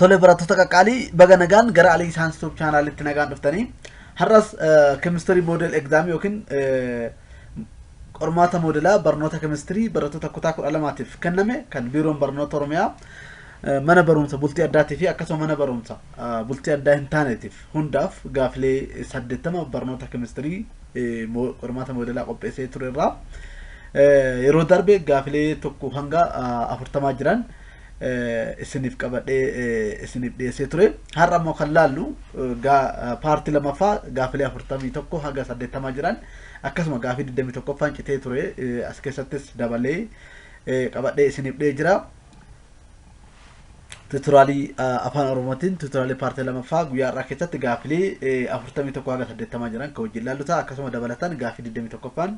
Tole barattoota qaqqaalii baga nagaan gara Alii Saayinsi Tuub chaanaalitti nagaan dhuftanii har'as kemistirii moodel egzaamii yookiin qormaata moodelaa barnoota kemistirii barattoota kutaa kudha lamaatiif kenname kan biiroon barnoota Oromiyaa mana barumsa bultii addaatii fi akkasuma mana barumsa bultii addaa hin taaneetiif hundaaf gaafilee saddeettama barnoota kemistirii qormaata moodelaa qopheessee ture irraa yeroo darbe gaafilee tokko hanga afurtamaa jiran isiniif qabadhee isiniif dhiyeessee ture. Har'a immoo kan laallu paartii lamaffaa gaafilee afurtamii tokko hanga saddeettamaa jiran akkasuma gaafii digdamii tokkoffaan citee ture as keessattis dabalee qabadhee isiniif dhiyeessee jira. tuturaalii afaan oromootiin tuturaalii paartii lamaffaa guyyaa har'aa keessatti gaaffilee afurtamii tokko haga saddeettamaa jiran kan wajjin ilaallu ta'a akkasuma dabalataan gaaffii digdamii tokkoffaan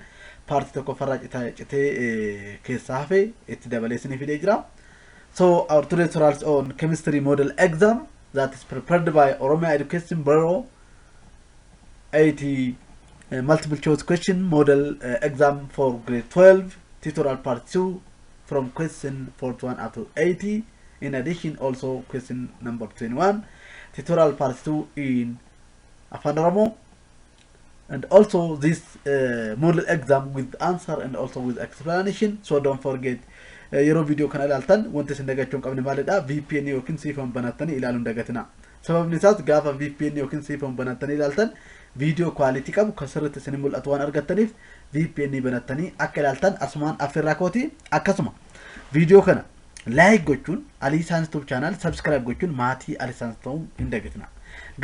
paartii tokkoffarraa cita- citee eh, keessaa hafe itti dabalee isinii fidee jira. So our today's results on chemistry model exam that is prepared by Oromia Education Bureau 80 uh, multiple choice question model uh, exam for grade 12 tutorial part 2 from question 41 up to 80 in addition also question number 21 tutorial part 2 in Afan Oromo and also this uh, model exam with answer and also with explanation so don't forget uh, yeroo video kana ilaaltan wanti isin dagachuu hin qabne maalidha VPN yookiin siifan banattanii ilaaluun dagatina sababni isaas gaafa VPN yookiin siifan banattanii ilaaltan video quality qabu kan sirriitti isin mul'atu waan argattaniif vpn banattanii akka ilaaltan asumaan affeerraa kooti akkasuma viidiyoo kana laayik gochuun alii saans tuub chaanaal sabskiraayib gochuun maatii alii saans ta'uun hin dagatina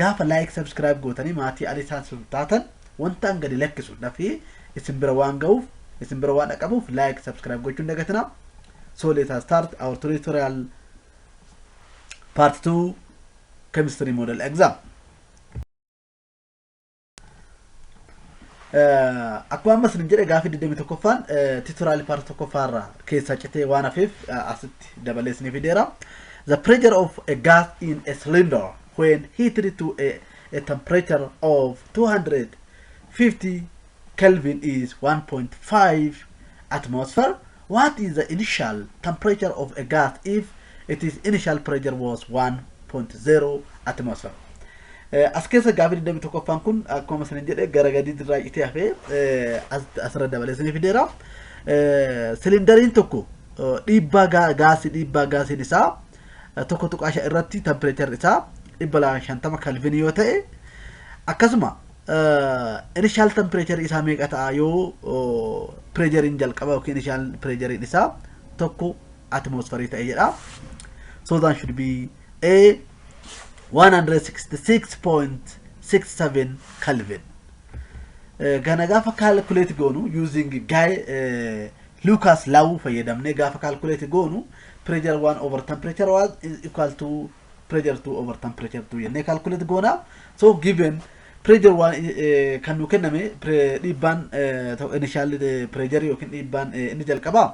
gaafa laayik sabskiraayib gootanii maatii alii saans taatan wantaan gadi lakkisu dafee isin bira waan ga'uuf isin bira waan dhaqabuuf laayik sabskiraayib gochuun dagatina so let us start our tutorial part 2 chemistry model exam Akkuma ammas hin jedhe gaaffii 21ffaan titoraalii paartii tokkoffaa irraa keessaa citee waan hafeef asitti dabalee isinii fideera. The pressure of a gas in a cylinder when heated to a, a temperature of 250 Kelvin is 1.5 atmosphere What is the initial temperature of a gas if its initial pressure was 1.0 atmosphere? Eh, As keessa gaaffii 21ffaan kun akkuma isin jedhe gara gadii irraa citee hafee eh, as- asirra dabalee isin fideera. Eh, Siliindariin tokko eh, dhiibbaa gaa- gaasii dhiibbaa gaasiin isaa eh, tokko tuqaa shan irratti tempireecherri isaa 250 kalvinii yoo ta'e akkasuma Inishaal tempireecharii isaa meeqa ta'a yoo pireejariin jalqaba yookiin inishaal pireejariin isaa tokko atimoosfarii ta'e jedha. So that should be a 166.67 Kelvin. Kana gaafa kaalkuleeti goonu using gaay Lucas Law fayyadamnee gaafa kaalkuleeti goonu pireejar 1 over temperature was equal to pressure 2 over tan pressure 2 jennee calculate goona so given pressure waan kan nu kenname dhiibbaan initial pressure yookiin dhiibbaan inni jalqabaa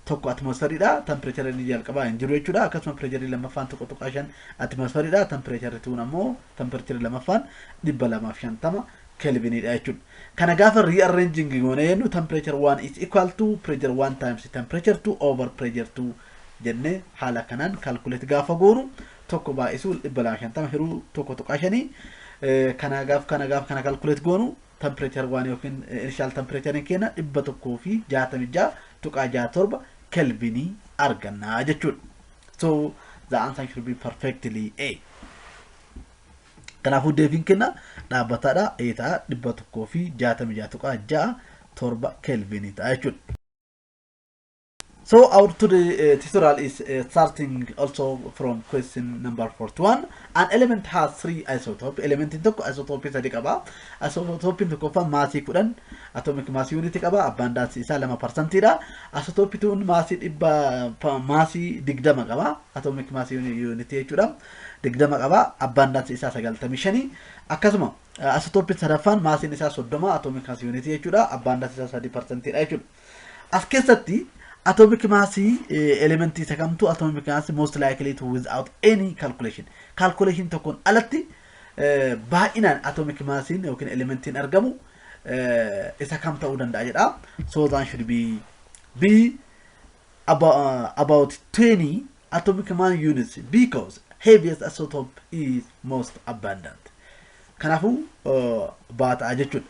tokko atmosferiidha tempireechara inni jalqabaa hin jiru jechuudha akkasuma pireecharii lammaffaan tokko tuqaa shan atmosferiidha tempireecharri tuun ammoo tempireecharri lammaffaan dhibba lamaaf shantama kelviniidha jechuudha. Kana gaafa rearranging goone jennu temperature 1 is equal to pressure 1 times temperature 2 over pressure 2 jennee haala kanaan calculate gaafa goonu tokko baay'isuu 250 hiruu 1.5 kana gaaf kana gaaf kana calculate goonu temperature waan yookiin initial temperature keenya 166.67 kelvin argannaa jechuudha. So the answer should be perfectly A. Kanaafuu deebiin keenya dhaabbataadha. A ta'a 166.67 kelvin ta'a jechuudha. So our today uh, tutorial is uh, starting also from question number 41. An element has three isotopes. Element in tokko isotope sadi qaba. Isotope in tokkoffaa maasii kudhan atomic mass unit qaba. Abundance isaa lama parsantii dha. Isotope tuun maasii dhibba pa- maasii digdama qaba. Atomic mass unit unit jechuudha. Digdama qaba. Abundance isaa sagaltamii shanii. Akkasuma isotope sadaffaan maasiin isaa soddoma atomic mass unit jechuudha. Abundance isaa sadii parsantii dha jechuudha. As keessatti atomic mass elementii isa kamtu atomic mass most likely to without any calculation. Calculation tokkoon alatti baay'inaan atomic massiin yookiin elementiin argamu isa kam ta'uu danda'a jedha. So that should be be about, about 20 atomic mass units because heaviest isotope is most abundant. Kanaafuu baata'a jechuudha.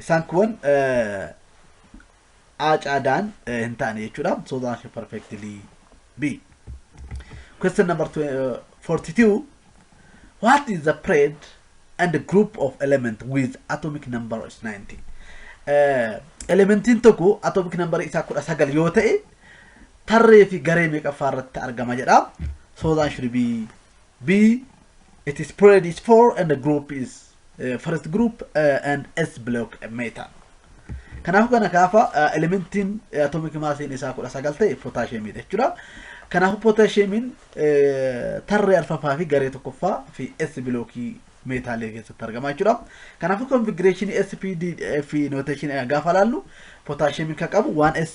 Isaan kuwan A caadaan hin taane jechuudha. So the answer perfectly B. Question number 42. What is the period and the group of element with atomic number is 90? Uh, elementiin tokko atomic number isaa kudha sagal yoo ta'e tarree fi garee meeqaffaa irratti argama jedha. So the answer should be B. It is spread is 4 and the group is uh, first group uh, and S block metal. Kanaafuu kana gaafa uh, elementiin uh, atomic massiin isaa 19 ta'e potaashiyeemiidha jechuudha. Kanaafuu potaashiyeemiin uh, tarree arfaffaa fi garee tokkoffaa fi S bilookii meetaalee keessatti argama jechuudha. Kanaafuu konfigureeshinii SPD fi noteeshinii gaafa laallu potaashiyeemiin kan qabu 1S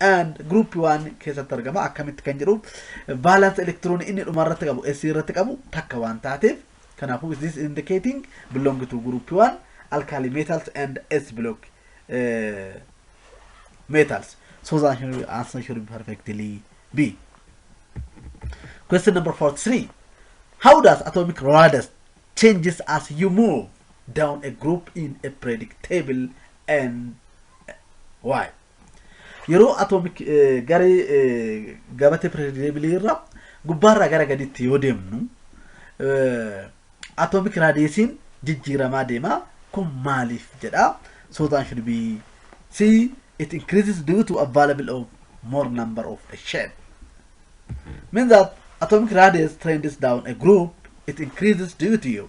and group 1 keessatti argama akkamitti kan jedhu valence electron inni dhuma irratti qabu s irratti qabu takka waan taateef kanaafuu is this indicating belong to group 1 alkali metals and s block uh, metals so the answer should be perfectly b question number 43 how does atomic radius changes as you move down a group in a predictable and why Yeroo atoomik garee gabatee pireedireebilii irra gubbaarraa gara gadiitti yoo deemnu atoomik raadiyeesiin jijjiiramaa deema. Kun maaliif jedha? So the answer should be C. It increases due to available of more number of a shell. Means that atomic radius trends down a group, it increases due to you.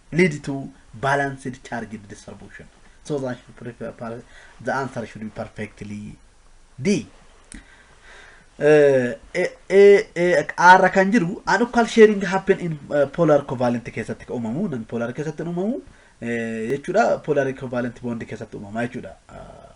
lead to balanced charge distribution. So the answer, prefer, per- the answer should be perfectly D. Eh, eh, eh, eh, R kan jiru anukkal sharing happen in eh, polar covalent keessatti kan uumamu non polar keessatti hin uumamu eh, jechuudha polar covalent bond keessatti uumama jechuudha. Ah,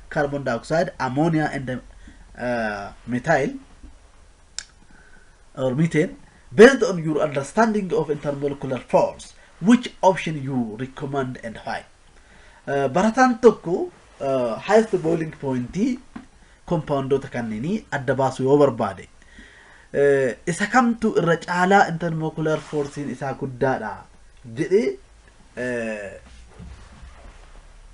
carbon dioxide, ammonia and uh, methyl or methane based on your understanding of intermolecular force which option you recommend and why uh, barataan tokko uh, highest boiling point kompaawundoota kanneenii adda baasuu yoo barbaade uh, isa kamtu irra caalaa intermolecular forcein isaa guddaadha jedhee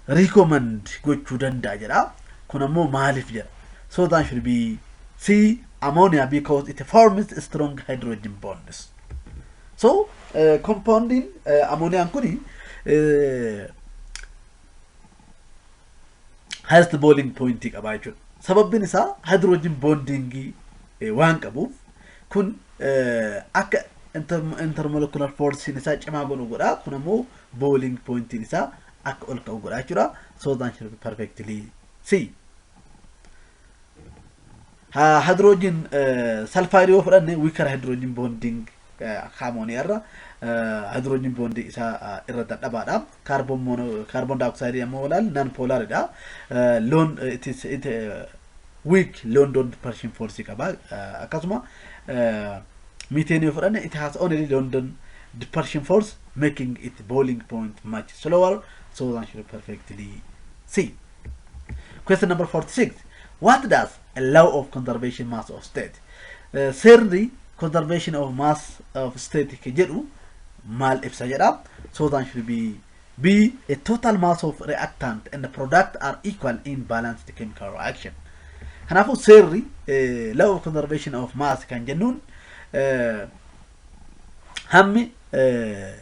recommend gochuu danda'a jedha. Kun ammoo maaliif jedha? So that should be C ammonia because it forms strong hydrogen bonds. So uh, compounding uh, ammonian kuni uh, highest boiling point qabaa jechuudha. Sababbiin isaa hydrogen bonding eh, waan qabuuf kun eh, akka inter- intermolecular force'n isaa cimaa godhu godha. Kun ammoo boiling point'n isaa akka ol ka'u godha jechuudha. So the answer is perfectly C. Hydrogen sulfide yoo fudhanne weaker hydrogen bonding akka ammonia irra hydrogen bonding isaa irra dadhabaadha. Carbon mono carbon dioxide ammoo walaal non polar dha. Loon it is it weak loon don't pershing force qaba. Akkasuma methane yoo fudhanne it has only London depression force making it boiling point much slower so than should perfectly see. Question number 46. What does a law of conservation mass of state? Eh, Seerri conservation of mass of state ke jedhu maal ibsa jedha. So that should be B. A total mass of reactant and product are equal in balanced chemical reaction. Kanaafuu seerri eh, law of conservation of mass kan jennuun eh, hammi eh,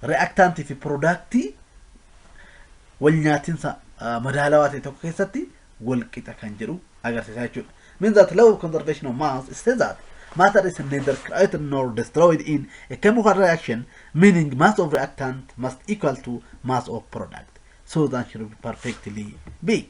reactant fi productii walnyaatinsa madaalawaa ta'e tokko keessatti walqixa kan jedhu agarsiisaa jechuudha. Means that law of conservation of mass says that matter is neither created nor destroyed in a chemical reaction, meaning mass of reactant must equal to mass of product. So the answer will perfectly be.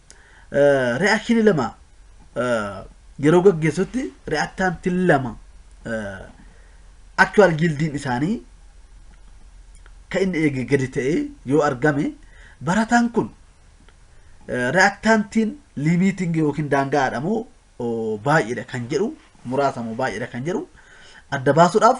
re'akshinii lama yeroo gaggeessutti re'aktaantiin lama aktuwaal gildiin isaanii kan inni eege gadi ta'ee yoo argame barataan kun re'aktaantiin liimiitiin yookiin daangaadha moo baay'eedha kan jedhu muraasa moo baay'eedha kan jedhu adda baasuudhaaf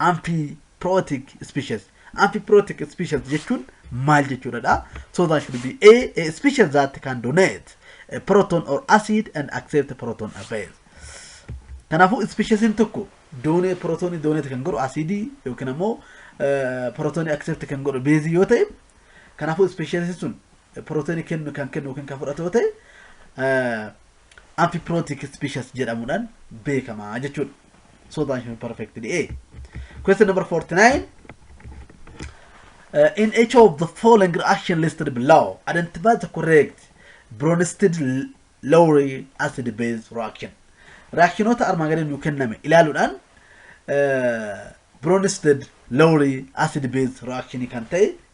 Amphiprootic species. Amphiprootic species jechuun maal jechuudha dha? So that should be A, a species that can donate a proton or acid and accept proton as base. Kanaafuu ispeeshisiin tokko doonee pirootoonii dooneeti kan godhu asiidii yookiin ammoo pirootoonii akseepti kan godhu beezii yoo ta'e kanaafuu ispeeshisiin sun pirootoonii kennu kan kennu yookiin kan fudhatu yoo ta'e Amphiprothic species jedhamudhan beekama jechudha. So that you perfectly A. Question number 49. Uh, in each of the following reaction listed below, identify the correct Bronsted Lowry acid base reaction. Reactionota armaan gadii nuu kenname ilaaluudhaan uh, Bronsted Lowry acid base reaction kan ta'e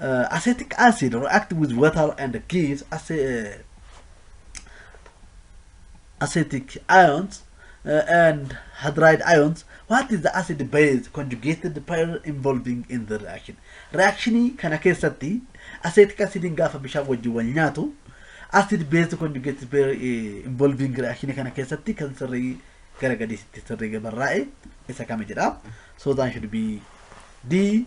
Uh, acetic acid react with water and gives ace- uh, acetic ions uh, and hydride ions. What is the acid base conjugated pair involving in the reaction? Reaction kana keessatti acetic acid gaafa bishaan wajjin wal nyaatu acid base conjugated pair eh, involving reaction kana keessatti kan sirrii gara gadiitti sirrii gabarraa'e isa kami jedha. So that should be D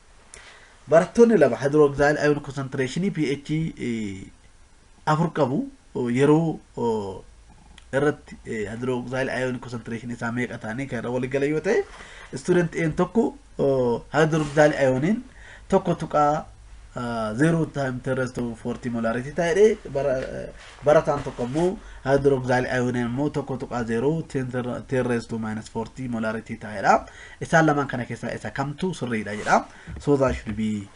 Barattoonni lama hydroxyl ion concentration pH 4 qabu yeroo irratti hydroxyl ion concentration isaa meeqa taanee kan irra walii galan yoo ta'e student A'n tokko hydroxyl ioniin tokko tuqaa zero time terrest of 40 molarity ta'ee Barataan tokko immoo haayidirooksilaayil ayooniin immoo 1.0 10 raised to minus 40 molaaritii ta'a jedha. Isaan lamaan kana keessaa isa kamtu sirriidha jedha. So that should be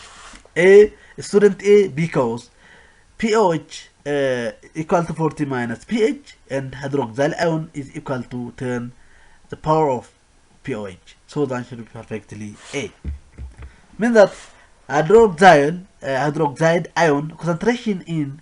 A student A because POH uh, equal to 40 minus pH and hydroxyl ion is equal to 10 the power of POH. So that should be perfectly A. Means that hydroxyl uh, hydroxide ion concentration in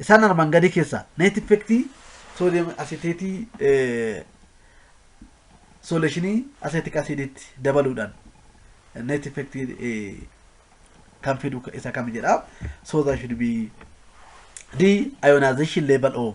Isaan armaan gadii keessaa neet effektii soodiyam asiteetii sooleeshinii aseetik asiidiitti dabaluudhaan neet effektii kan fidu isa kami jedha. So that should be the ionization level of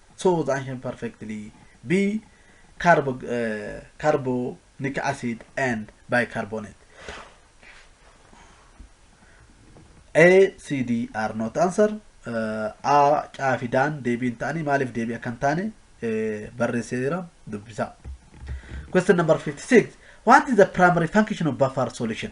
So the ancient perfectly be carbo, uh, carbonic acid and bicarbonate. A, C, D are not answer. Uh, A, Caa fi Daan deebii hin ta'anii maaliif deebii akka hin taane eh, barreessee jira dubbisaa. Question number 56. What is the primary function of buffer solution?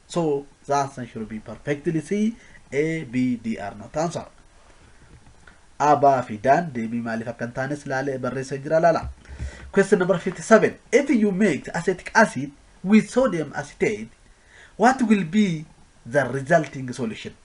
So the answer should be perfectly C, A, B, D are not answer. A, B fi Daan deebii maaliif akka hin taanes laalee barreessee jira laala. Question number 57. If you mix acetic acid with sodium acetate, what will be the resulting solution?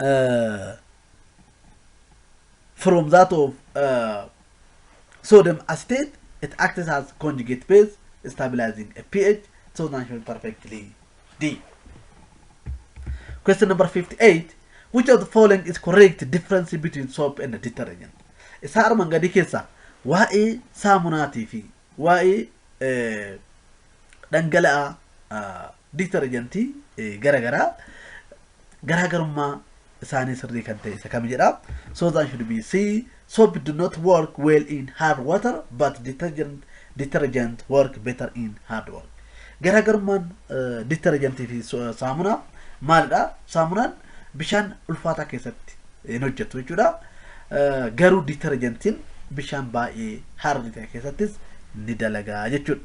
uh, from that of uh, sodium acetate, it acts as conjugate base, stabilizing a pH, so natural perfectly D. Question number 58. Which of the following is correct difference between soap and detergent? Isa armaan gadii keessaa waa'ee saamunaatii fi waa'ee eh, dhangala'aa ah, Ditarjantii gara garaa garaagarummaa isaanii sirrii kan ta'e isa kami jedha. Soap and should be C. Soap do not work well in hard water but detergent, detergent work better in hard water. Garaagarummaan ditarjantii fi saamunaa maalidha? Saamunaan bishaan ulfaataa keessatti hin hojjetu jechuudha. Garuu ditarjantiin bishaan baay'ee hardi ta'e keessattis ni dalagaa jechuudha.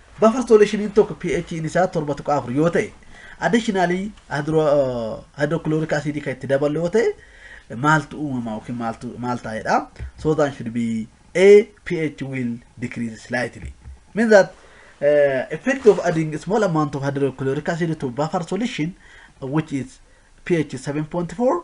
Buffer solution-iin tokko pH-iin isaa 7.4 yoo ta'e additionally hydrochloric acid kan itti daballu yoo ta'e maaltu uumama yookiin maaltu maal taa'edha so that should be a pH will decrease slightly means that uh, effect of adding small amount of hydrochloric acid to buffer solution which is pH 7.4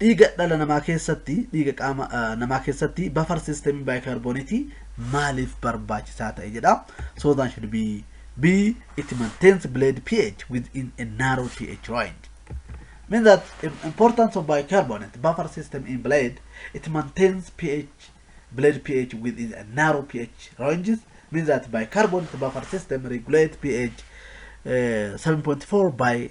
Dhiiga dhala namaa keessatti dhiiga qaama namaa keessatti buffer system baayikaarbooniitii maaliif barbaachisaa ta'e jedha. So that should be B. It maintains blood pH within a narrow pH range. Means that the importance of bicarbonate buffer system in blood, it maintains pH, blood pH within a narrow pH ranges. Means that bicarbonate buffer system regulate pH uh, 7.4 by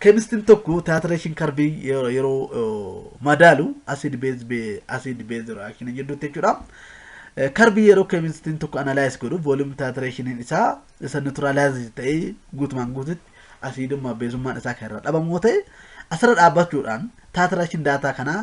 Keemistiin tokko titration curve yeroo yeroo madaalu acid base be- acid base reaction jidduutti jechuudha. Eh, Curve yeroo keemistiin tokko analyze godhu volume titrationiin isaa isa neutralize ta'ee guutumaan guututti asiidummaa beezummaan isaa kan irraa dhabamu yoo ta'e asirra dhaabbachuudhaan titration daataa kanaa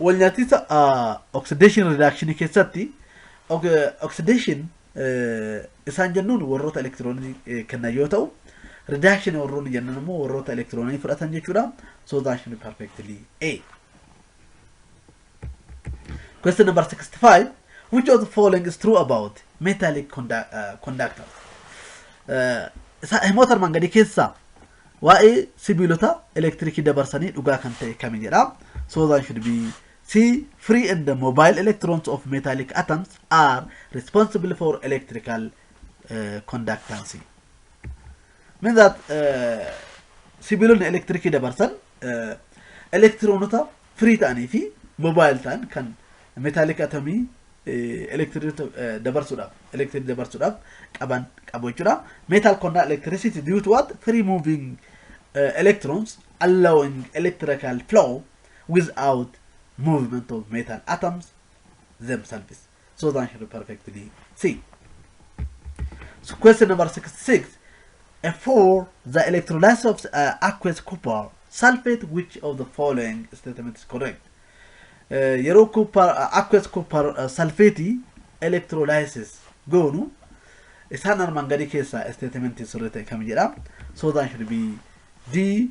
walnyaatinsa oxidation reduction keessatti oxidation isaan jennuun warroota elektiroonii kennan yoo ta'u reduction warroonni jennan immoo warroota elektiroonii fudhatan jechuudha so that should be perfectly a question number 65 which of the following is true about metallic conduct, uh, conductors uh, himoota armaan gadii keessaa Waa'ee sibiilota elektirikii dabarsanii dhugaa kan ta'e kami jedha. So that should be C. Free and the mobile electrons of metallic atoms are responsible for electrical uh, conductancy. Means that uh, sibiilonni elektirikii dabarsan uh, elektiroonota firii ta'anii fi mobile ta'an kan metallic atomii electric dabarsuudhaaf electric dabarsuudhaaf qaban qabu jechuudha. Metal conduct electricity due to what? Free moving uh, electrons allowing electrical flow without movement of metal atoms themselves. So the answer is perfectly C. So question number 66. A for the electrolysis of uh, aqueous copper sulfate, which of the following statement is correct? Uh, yeroo copper, uh, aqueous copper uh, sulfate electrolysis goonu isaan armaan gadii keessaa statement sirrii ta'e kam jedha? So the answer will be D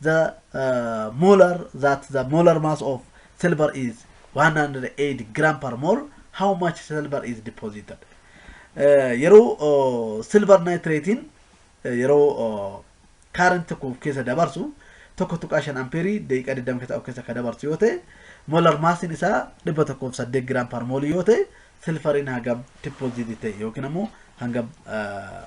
The molar that the molar mass of silver is 108 gram per mole how much silver is deposited Eh, yeroo oh, silver nitratein eh, yeroo oh, current tokko of keessa dabarsu tokko tuqaa shan ampeerii daqiiqaa 20 keessa of keessa akka dabarsu yoo ta'e molar massiin isaa 108 gram per mole yoo ta'e silfariin hangam deposit ta'e yookiin ammoo hangam eh,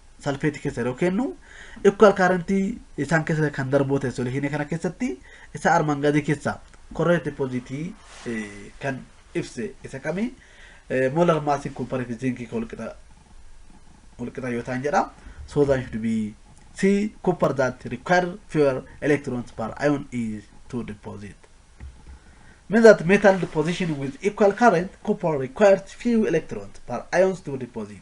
salfeetii keessa yeroo kennu ikkuwaal kaarentii isaan keessa kan darboo ta'e soluushinii kana keessatti isa armaan gadii keessaa korreetti poozitii kan ibse isa kami moolar maasiin kumpariitii ziinkii kan walqixa walqixa yoo ta'an jedha so that should be c copper that require fewer electrons per ion is to deposit means that metal deposition with equal current copper requires few electrons per ions to deposit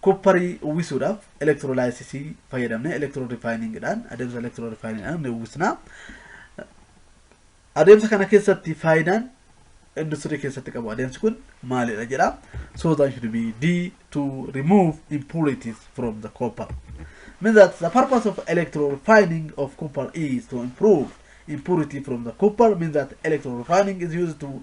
Koopparii uwwisuudhaaf elektiroolaayisisii fayyadamnee elektiroo rifaayiniingidhaan adeemsa elektiroo rifaayiniingidhaan ni uwwisna. Adeemsa kana keessatti faayidaan industirii keessatti qabu adeemsi kun maalidha jedha. So that should be D to remove impurities from the copper. Means that the purpose of electro refining of copper is to improve impurity from the copper means that electro refining is used to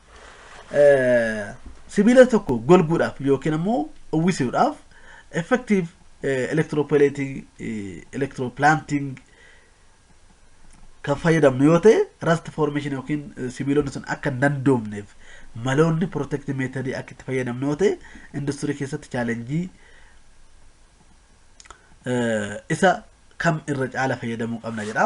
sibiila tokko golguudhaaf yookiin ammoo uwwisuudhaaf effective electroplating electroplanting kan fayyadamnu yoo ta'e rust formation yookiin sibiilonni sun akka hin dandoomneef maloonni protect method akka itti fayyadamnu yoo ta'e industirii keessatti chaalenjii isa kam irra caala fayyadamuu qabna jedha.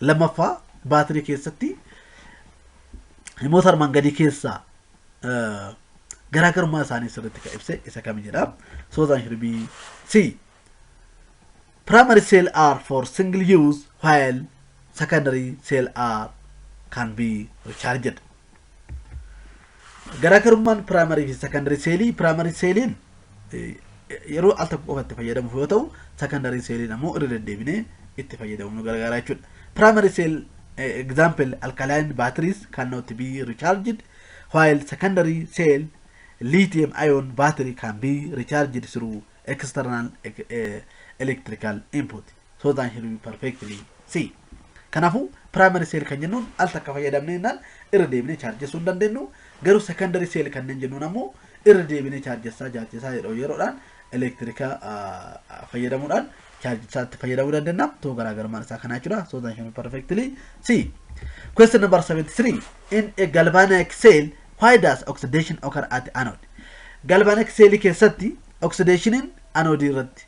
lammaffaa baatirii keessatti himoota armaan gadii keessaa eh, garaagarummaa isaanii sirriitti kan ibse isa kami jedha. Soozaan Shirbii C. Primary cell are for single use while secondary cell are can be recharged. Garaagarummaan piraamarii fi sekandarii seelii piraamarii seeliin yeroo al tokko qofa itti fayyadamuuf yoo ta'u sekandarii seeliin ammoo irra deddeebinee itti fayyadamuuf nu gargaara jechuudha. Piraamarii seel example alkaline batteries cannot be recharged while secondary cell lithium ion battery can be recharged through external electrical input. So that he will perfectly see. Kanaafuu primary cell kan jennuun al takka fayyadamne jennaan irra deebinee chaarjessuu hin dandeenyu. Garuu secondary cell kanneen jennuun ammoo irra deebinee chaarjessaa chaarjessaa yeroo yeroodhaan elektirikaa fayyadamuudhaan chaarjessaatti fayyadamuu dandeenya. Too garaagarummaan isaa kanaa jechuudha. So that he will perfectly see. Question number 73. In a galvanic cell, why does oxidation occur at anode? Galvanic cell keessatti oxidationiin anode irratti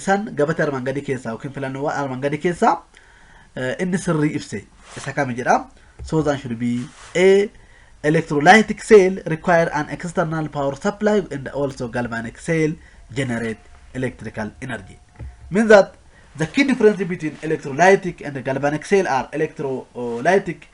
Isaan gabatee armaan gadii keessaa yookiin filannoowwan armaan gadii keessaa inni sirrii ibse isa kami jedha. So the answer should be A. Electrolytic cell require an external power supply and also galvanic cell generate electrical energy. Means that the key difference between electrolytic and galvanic cell are electrolytic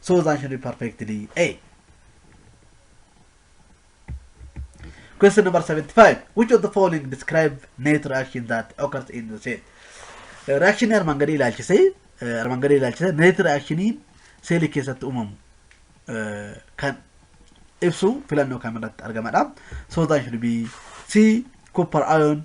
So that should be perfectly A. Question number 75. Which of the following describe net reaction that occurs in the cell? Eh, Reaction armaan gadii ilaalchisee eh, armaan gadii ilaalchisee net reactioniin seelii keessatti uumamu eh, kan ibsu filannoo kam irratti argamadha. So that should be C. Copper ion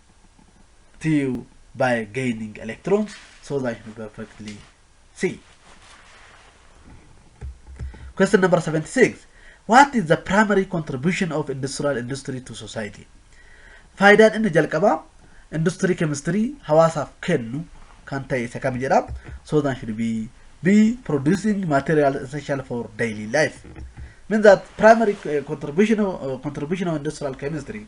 to you by gaining electrons so that you perfectly see. Question number 76. What is the primary contribution of industrial industry to society? Faayidaan inni jalqabaa industirii keemistirii hawaasaaf kennu kan ta'e isa kam jedha? So that should be B producing material essential for daily life. Means that primary uh, contribution of, uh, contribution of industrial chemistry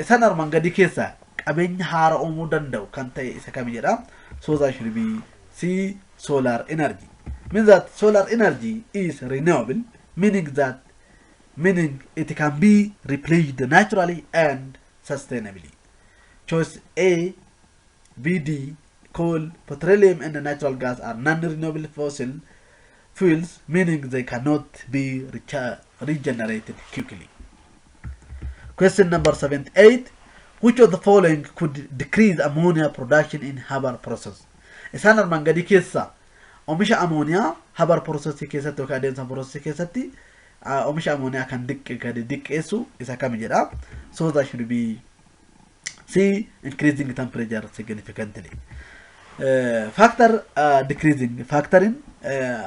Isan arman gadii keessaa qabeenya haara uumuu danda'u kan ta'e isa kami jedha. Soozaa shirbii C. Solar energy. Means that solar energy is renewable meaning that meaning it can be replaced naturally and sustainably. Choice A BD, coal, petroleum and natural gas are non-renewable fossil fuels meaning they cannot be recha- regenerated quickly. Question number 78. Which of the following could decrease ammonia production in Haber process? Isaan armaan gadii keessa oomisha ammonia Haber process keessatti yookaan adeemsa process keessatti ah, oomisha ammonia kan diqqe- gadi diqqeessu isa kami jedha. So that should be C. Increasing temperature significantly. Faaktar decreasing faaktarin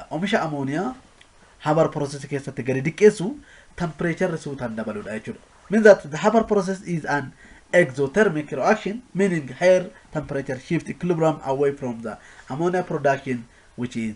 omisha amooniyaa hamar process keessatti gadi diqqeessu temperature suutaan dabaludha jechuudha. Means that the hammer process is an exothermic reaction meaning higher temperature shift equilibrium away from the ammonia production which is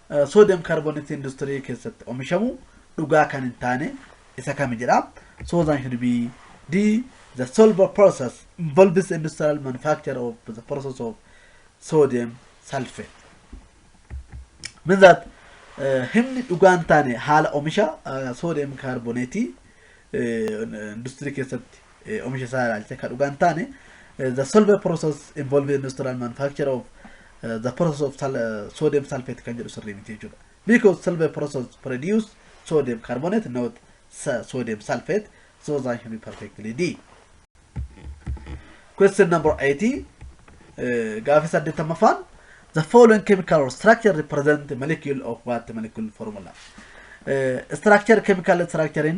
Soodiyam kaarbooneetii industirii keessatti omishamu dhugaa kan hin taane isa kami jedha. So the should be D. The solver process involves the industrial manufacture of the process of sodium sulfate. Means that eh, himni dhugaa hin taane haala omisha eh, soodiyam kaarbooneetii eh, industirii keessatti eh, omisha isaa ilaalchisee kan dhugaa hin taane eh, the solver process involving industrial manufacture of eh, the process of sal- eh, sodium sulfate kan jedhu sirrii miti jechuudha because solver process produce sodium carbonate not sa- sodium sulfate so that should be perfectly d question number 80 eh, gaafii saddeettamaffaan the following chemical structure represent the molecule of what molecule formula Eh, structure chemical structure in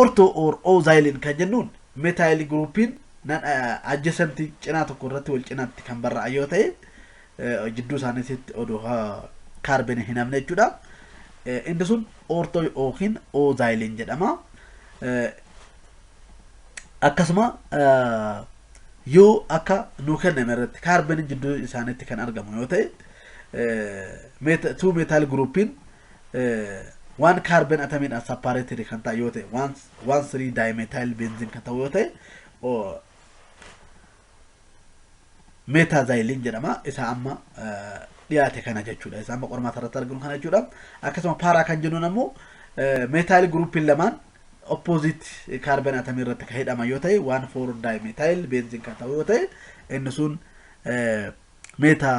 Ortho or O-xylene kan jennuun metaayil giruupiin nan adjacent cinaa tokko irratti wal cinaatti kan barraa'an yoo ta'e jidduu isaaniitti odoo kaarbene hin hafne jechuudha. Inni sun ortho yookiin O-xylene jedhama. Akkasuma yoo akka nuu kenname irratti kaarbeniin jidduu isaaniitti kan argamu yoo ta'e two metaayil giruupiin 1 carbon atomiin as separated kan ta'e yoo ta'e 1 3 dimethyl benzene kan ta'u yoo ta'e meetaazayiliin jedhama isa amma dhiyaate kana jechuudha isa amma qormaata irratti arginu kana jechuudha akkasuma paaraa kan jennuun ammoo meetaayil guruupiin lamaan oppoozit kaarban atamii irratti kan hidhama yoo ta'e waan foor daayimetaayil beenziin kan ta'u yoo ta'e inni sun meetaa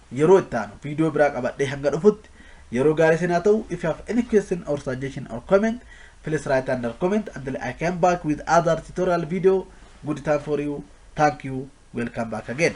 Yeroo itti aanu video biraa qabadhee hanga dhufutti yeroo gaarii isin haa ta'u if you have any question or suggestion or comment please write under comment until I come back with other tutorial video good time for you thank you welcome back again